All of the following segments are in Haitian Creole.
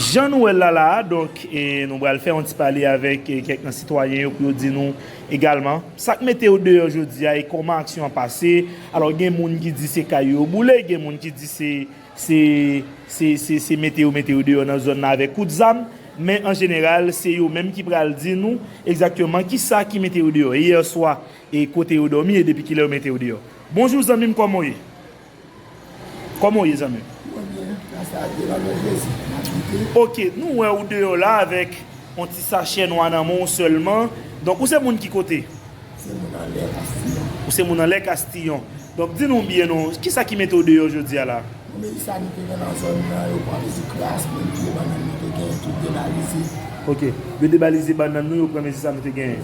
Jan nou wè l la la a, donk, nou pral fè yon ti pale avèk kèk nan sitwayen yo pou yo di nou egalman sa k mete yo deyò jodi a e kòman aksyon an pase. Alò, gen moun ki di se kay yo yo boule, gen moun ki di se se mete yo mete yo deyò nan zòn nan avèk kout zam. Men, an jeneral, se yo menm ki pral di nou egzakteman ki sa ki mete yo deyò, e yèswa, e kote yo dòmi e depi ki lè yo mete yo deyò. Bonjou zanmi m, kòman w ye? Koman ou ye zanmi m? Mwen byen, gras a Dye, nan non Jezi, m ap kite. Ok, nou wè ou deyò la avèk on ti sachè nwa nan men w sèlman, donk ou se moun ki kote? M se moun anlè Kastillon. Ou se moun anlè Kastillon. Donk di nou byen non, kisa ki mete w deyò jodi a la? Bon Melissa nou te gen nan zòn nan, yo pran mezi kras, menm pye bannann nou te genyen tout debalize. Ok, yo debalize bannann nou, yo pran mezi sa nou te genyen.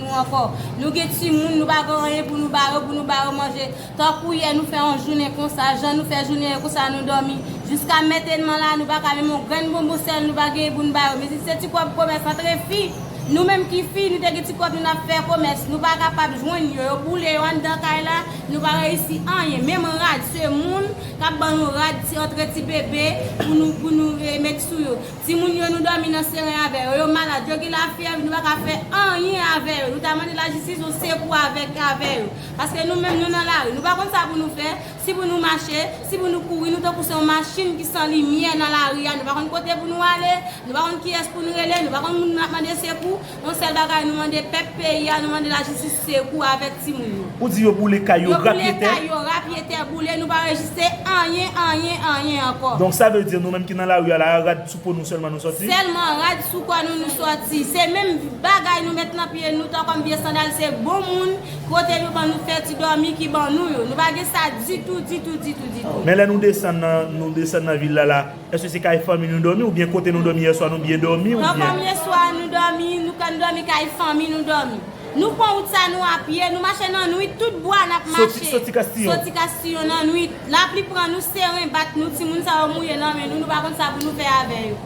nou ankò nou gen timoun nou pa gen anyen pou nou ba yo pou nou ba yo manje tankou yè nou fè yon jounen konsa jan nou fè jounen yè konsa nou dòmi jiska metedman la nou paka menm yon grenn bonbon sèl nou pa genyen pou nou ba yo mezanmi se ti kòb komès antre fi nou menm ki fi nou te gen ti kòb nou nap fè komès nou pa kapab jwenn yo yo boule yo anndan kay la nou pa reyisi anyen menm rad semoun kap ban nou rad ti antre ti bebe pou nou pou nou met sou yo. Timoun yo nou dòmi nan seren avè yo, yo malad, yo gen lafyèv, nou pa ka fè anyen avè yo, nou ta mande lajistis yon sekou avèk avè yo. Paske nou menm nou nan lari, nou pa konn sa pou nou fè, si pou nou mache, si pou nou kouri, nou tankou se yon machin ki san limyè nan lari a, nou pa konn kote pou nou ale, nou pa konn kiyès pou nou rele, nou pa konn moun nou ap mande sekou. Yon sèl bagay nou mande pèp peyi a nou mande la jistis sekou avèk ti moun yo. Ou di yo boule kay yo rapye tè. Yo boule kay yo rapye tè boule nou pa rejiste anyen anyen anyen ankò. Donk sa vle di nou menm ki nan lari a la rad sou po nou sèlman nou sòti. Sèlman rad sou kò nou nou sòti. Se menm bagay nou met nan pye nou tan kòm vye sandal se bon moun kote yo ban nou fè ti dòmi ki ban nou yo. Nou pa gen sa ditou ditou ditou ditou. Men lè nou desann nan nou desann nan vil la la. Eske se kay fanmi nou domi ou byen kote nou domi yeswa nou byen domi ou byen. Nan fanmi yeswa nou domi nou kan domi kay fanmi nou domi nou pwan wout sa nou apye nou mache nan nwit tout bwa nap mache soti kastiyon soti kastiyon nan nwit lapli pran nou seren bak nou timoun sa yo mouye nan men nou nou pa konn sa pou nou fè avè yo.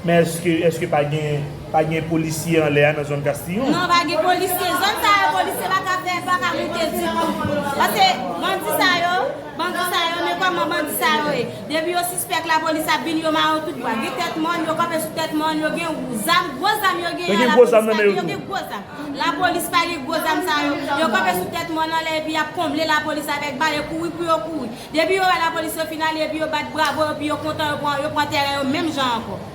Men eske eske pa gen pa gen polisye anlè a nan zòn kastiyon. Non pa gen polisye zòn sa yo polisye paka fè paka moute ditou pase bandi sa yo. Bandi sa yo men koman bandi sa yo ye depi yo sispèk la polis ap vini yo mare yo tout bwa gen tèt mòn yo kanpe sou tèt mòn yo gen zam gwo zam yo gen an la polis pa gen yo gen gwo zam la polis pa gen gwo zam sa yo yo kanpe sou tèt mòn anlè epi yap konble la polis avèk bal e kouri pou yo kouri depi yo wè la polis yo fin ale epi yo bat bravo yo pi yo kontan yo pran yo pran tèren yo menm jan ankò.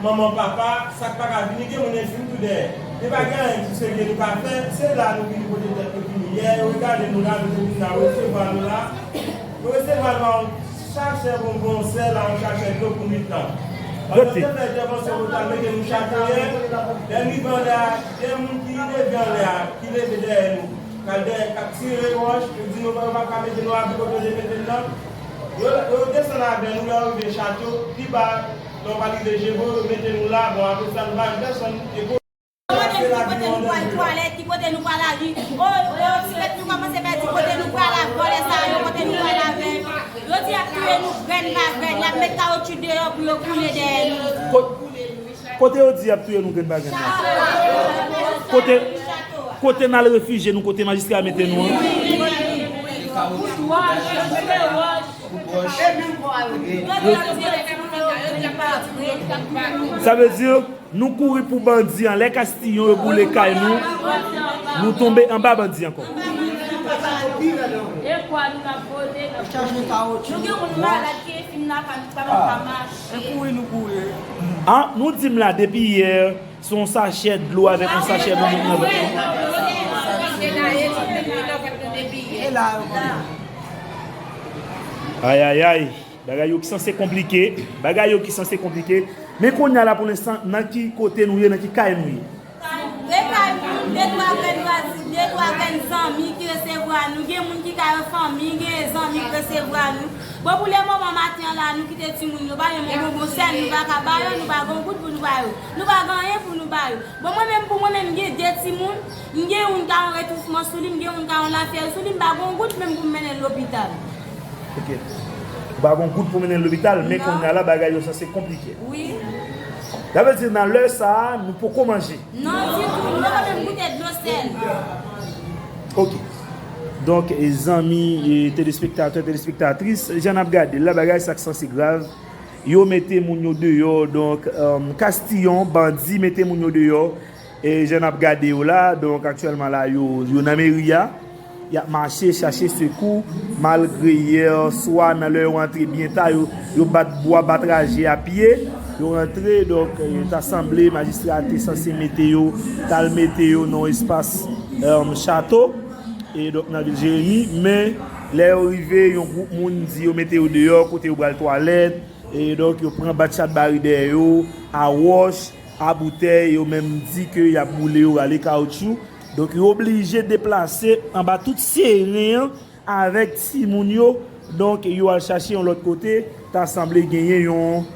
Manman papa sak paka vini gen moun enjwi m tou dèyè e pa gen anyen ti serye nou ka fè se la nou vini pote tèt nou fini yè yo regade nou la nou te vin la resevwa nou la yo resevwa nou a yon chachè bonbon yon sè la yon chachè dlo pou nwit lan pandan se fè entèvansyon pou ta mete nou chachè yè lè n rive anlè a gen moun ki leve anlè a ki leve dèyè nou kal dèyè kap tire wòch yo di nou yo paka mete nou abri kote yo te mete n nan. Lè yo desann avè nou, lè yo rive Chato, pi ba, lè yo pa rive Jebo, yo mete nou la, bon apre sa nou pa wè pèsonn, e kou. Ki kote nou ye, kote nou pwal twalèt, ki kote nou pwal ale, oo, ti bèt nou kòmanse pèdi kote nou pwal ak vòlè sa yo, kote nou pwal avè yo. Yo di y ap touye nou grenn pa grenn, y ap met kawotchou deyò pou yo koule dèyè nou. Kote yo di yap touye nou grenn pa grenn la. Kote Kote nal refije nou kote majistra mete nou an. Sa vle di nou kouri pou bandi an lè kastillon yo boule kay nou nou tonbe anba bandi ankò. Se kouri nou kouri e. Ah nou dim la depi hier se yon sachè dlo avèk yon sachè bonbon nan vant nou. Ayayay bagay yo ki sanse konplike bagay yo ki sanse konplike men kounya la pou lenstan nan ki kote nou ye nan ki kay nou ye. E kay moun, de twa grenn vwazen, de twa grenn zanmi ki resevwa nou. Gen moun ki kay an fanmi, gen zanmi k resevwa nou. Bon pou le moman maten an la nou kite timoun yo ba yo men bonbon sèl nou pa ka ba yo, nou pa gen yon goud pou nou ba yo. Nou pa gen anyen pou nou ba yo. Bon mwen menm pou mwen menm m gen de timoun, m gen youn ka yon retousman sou li, m gen youn ka yon lafyèv sou li, m pa gen yon goud menm pou m mennen l lopital. Ok. Ou pa gon goud pou mennen l lopital, men kounya la bagay yo sanse konplike. Wi. Sa vle di nan lè sa a, nou poko manje? Non ditou, nou poko menm goute dlo sèl. Ok. Donk zanmi e telespektatè, telespektatris, jan n ap gade l la, bagay sa k sanse grav. Yo mete moun yo deyò, donk kastiyon, bandi mete moun yo deyò. E jan nap gade yo la, donk aktyèlman la yo yo nan meri a, yap mache chache sekou malgre yè swa nan lè yo rantre byen ta yo yo bat bwa bat raje a pye, yo rantre donk ta sanble majistra a te sanse mete yo tal mete yo nan yon espas chato e donk nan vil Jeremi men lè yo rive yon gwoup moun di yo mete yo deyò kote yo pral twalèt e donk yo pran bat chatbari dèyè yo a wòch. a boutèy yo menm di ke yap boule yo rale kaoutchou donk yo oblije deplase anba tout seren an avèk timoun yo donk yo al chache yon lòt kote ta sanble genyen yon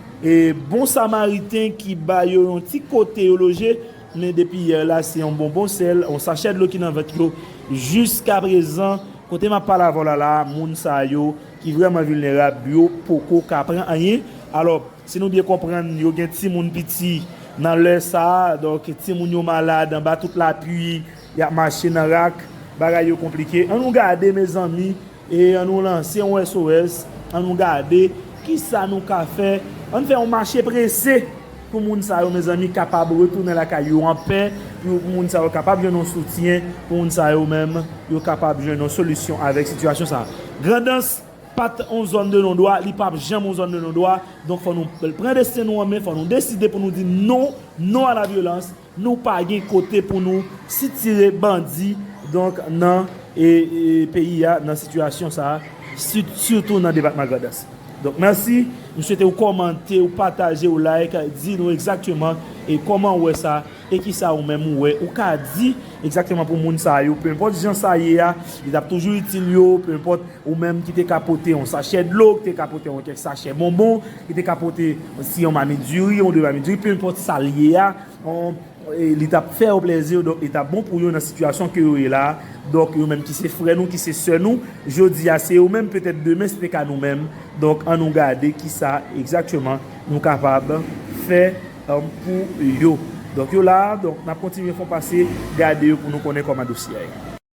bon samariten ki ba yo yon ti kote yo loje men depi yè la se yon bonbon sèl yon sachè dlo ki nan vant yo jiska prezan kote map pale avèw la la moun sa yo ki vrèman vilnerab yo poko ka pran anyen alò. Si nou byen konprann, yo gen timoun piti nan lè sa a, donk timoun yo malad anba tout lapui, y ap mache nan rak, bagay yo konplike. An nou gade mezanmi, e an nou lanse yon SOS, an nou gade ki sa nou ka fè, an n fè yon mache prese pou moun sa yo mezanmi kapab retounen lakay yo an pè, pou moun sa yo kapab jwenn yon soutyen, pou moun sa yo menm yo kapab jwenn yon solisyon avèk sitiyasyon sa a. Grandans. Pat yon zòn de non dwa, li pap janm yon zòn de non dwa, donk fò nou pran desten nou an men, fò nou deside pou nou di non, non a la vyolans, nou pa gen kote pou nou sitire bandi donk nan peyi a, nan sitiyasyon sa a, sitou nan depatman Grandans. Donk mèsi, m swete ou kòmante, ou pataje, ou like, di nou egzakteman kòman ou wè sa. E kisa ou menm ou wè ou ka di egzakteman pou moun sa yo, penpòt jan sa ye a, li t ap toujou itil yo, penpòt ou menm ki te ka pote yon sachè dlo, ki te ka pote yon kèk sachè bonbon, ki te ka pote si yon mamit diri, yon de mamit diri, penpòt sa l ye a, li t ap fè yo plezi, donk li t ap bon pou yo nan sitiyasyon ke yo ye la a, donk yo menm ki se frè nou, ki se sè nou, jodi a se yo menm, petèt demen se te ka nou menm, donk an nou gade kisa egzakteman nou kapab fè pou yo. Donk yo la a, donk n ap kontinye fon pase gade yo pou nou konnen kòman dosye a ye.